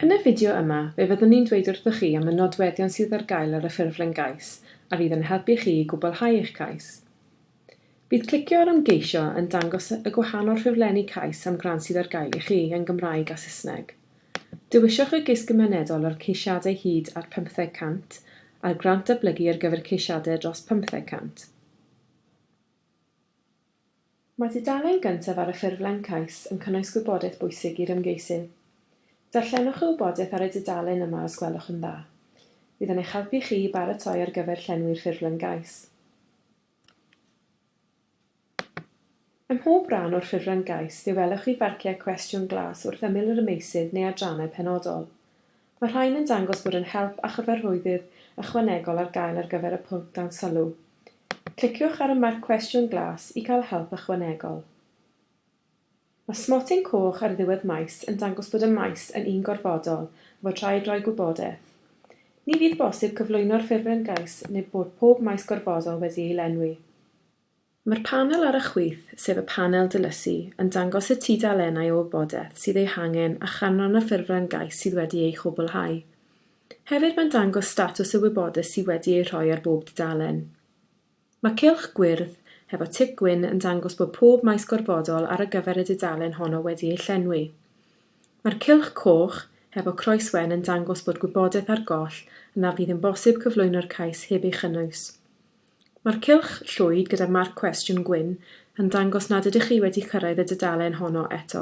Yn y fideo yma, fe fyddwn ni'n dweud wrthoch chi am y nodweddion sydd ar gael ar y ffurflen gais a fydd yn helpu chi i gwblhau eich cais. Bydd clicio ar Ymgeisio yn dangos y gwahanol ffurflenni cais am grant sydd ar gael i chi yn Gymraeg a Saesneg. Dewiswch y gais gymunedol ar ceisiadau hyd at 500 a'r grant datblygu ar gyfer ceisiadau dros 500. Mae tudalen gyntaf ar y ffurflen cais yn cynnwys gwybodaeth bwysig i'r ymgeisydd. Darllenwch y wybodaeth ar y dudalen yma os gwelwch yn dda. Bydd yn eich helpu chi i baratoi ar gyfer llenwi'r ffurflen gais. Ym mhob rhan o'r ffurflen gais fe welwch chi farciau cwestiwn glas wrth ymyl yr ymgeisydd neu adrannau penodol. Mae'r rhain yn dangos bod yn help a chyfarwyddyd ychwanegol ar gael ar gyfer y pwnc dan sylw. Cliciwch ar y marc cwestiwn glas i gael help ychwanegol. Mae smotyn coch ar ddiwedd maes yn dangos bod y maes yn un gorfodol a fod rhaid rhoi gwybodaeth. Ni fydd bosib cyflwyno'r ffurflen gais neu bod pob maes gorfodol wedi ei lenwi. Mae'r panel ar y chwith, sef y panel dilysu, yn dangos y tudalennau o wybodaeth sydd eu hangen a chanran y ffurflen gais sydd wedi ei chwblhau. Hefyd mae'n dangos statws y wybodaeth sydd wedi ei rhoi ar bob dudalen. Mae cylch gwyrdd, hefo tic gwyn, yn dangos bod pob maes gorfodol ar y gyfer y dudalen honno wedi ei llenwi. Mae'r cylch coch, hefo croeswen, yn dangos bod gwybodaeth ar goll a na fydd yn bosib cyflwyno'r cais heb ei chynnwys. Mae'r cylch llwyd gyda marc cwestiwn gwyn yn dangos nad ydych chi wedi cyrraedd y dudalen honno eto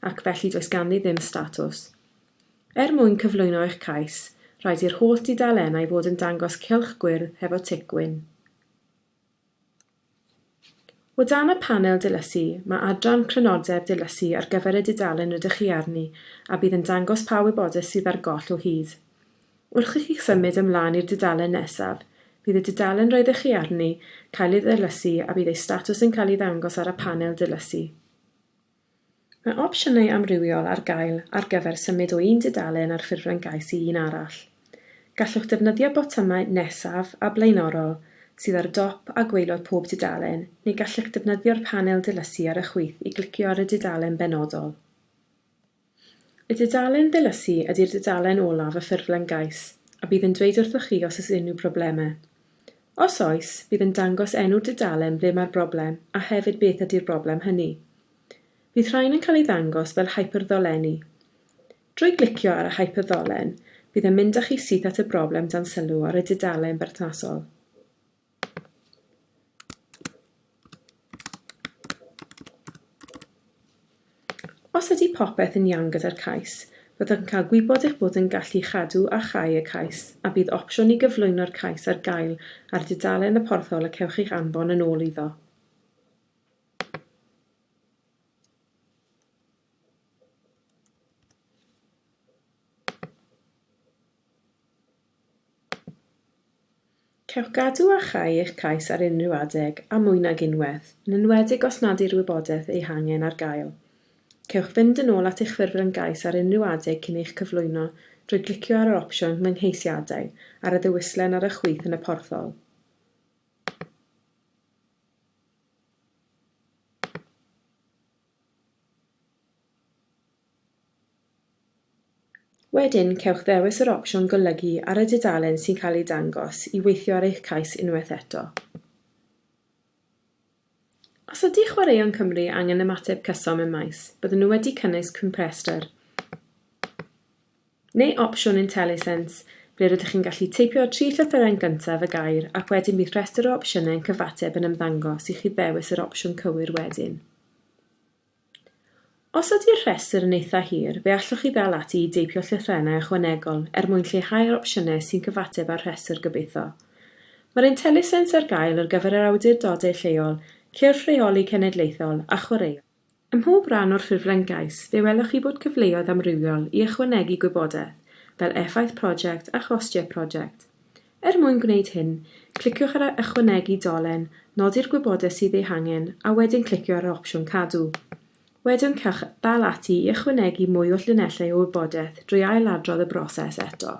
ac felly does ganddi ddim statws. Er mwyn cyflwyno eich cais, rhaid i'r holl dudalennau fod yn dangos cylch gwyrdd hefo tic gwyn. O dan y panel dilysu, mae adran Crynodeb dilysu ar gyfer y dudalen rydych chi arni a bydd yn dangos pa wybodaeth sydd ar goll o hyd. Wrth i chi symud ymlaen i'r dudalen nesaf, bydd y dudalen roeddech chi arni cael ei ddilysu a bydd ei statws yn cael ei ddangos ar y panel dilysu. Mae opsiynau amrywiol ar gael ar gyfer symud o un dudalen ar ffurflen gais i un arall. Gallwch ddefnyddio botymau Nesaf a Blaenorol sydd ar dop a gwaelod pob dudalen neu gallech ddefnyddio'r panel dilysu ar y chwith i glicio ar y dudalen benodol. Y dudalen ddilysu ydy'r dudalen olaf y ffurflen gais, a bydd yn dweud wrthoch chi os oes unrhyw broblemau. Os oes, bydd yn dangos enw'r dudalen ble mae'r broblem a hefyd beth ydy'r broblem hynny. Bydd rhain yn cael ei ddangos fel hyperddolenni. Drwy glicio ar y hyperddolen, bydd yn mynd â chi syth at y broblem dan sylw ar y dudalen berthnasol. Os ydy popeth yn iawn gyda'r cais, byddwch yn cael gwybod eich bod yn gallu cadw a chau y cais a bydd opsiwn i gyflwyno'r cais ar gael ar dudalen y porthol y cewch eich anfon yn ôl iddo. Cewch gadw a chau eich cais ar unrhyw adeg am mwy nag unwaith, yn enwedig os nad yw'r wybodaeth ei hangen ar gael. Cewch fynd yn ôl at eich ffurflen gais ar unrhyw adeg cyn eich cyflwyno drwy glicio ar yr opsiwn 'Fy ngheisiadau' ar y ddewislen ar y chwith yn y porthol. Wedyn, cewch ddewis yr opsiwn golygu ar y dudalen sy'n cael ei dangos i weithio ar eich cais unwaith eto. Os ydy Chwaraeon Cymru angen ymateb cyson mewn maes, byddwn nhw wedi cynnwys cwmprestr. neu opsiwn IntelliSense, ble rydych chi'n gallu teipio'r tri llythyren gyntaf y gair ac wedyn bydd rhestr o opsiynau yn cyfateb yn ymddangos i chi ddewis yr opsiwn cywir wedyn. Os ydy'r rhestr yn eitha' hir, fe allwch chi ddal ati i deipio llythrennau ychwanegol er mwyn lleihau'r opsiynau sy'n cyfateb â'r rhestr gobeithio. Mae'r IntelliSense ar gael ar gyfer yr awdurdodau lleol, cyrff rheoli cenedlaethol a chwaraeon. Ym mhob rhan o'r ffurflen gais, fe welwch chi bod cyfleoedd amrywiol i ychwanegu gwybodaeth, fel effaith prosiect a chostiau prosiect. Er mwyn gwneud hyn, cliciwch ar Ychwanegu dolen, nodi'r gwybodaeth sydd ei hangen, a wedyn clicio ar yr opsiwn Cadw. Wedyn cewch ddal ati i ychwanegu mwy o llinellau o wybodaeth drwy ail-adrodd y broses eto.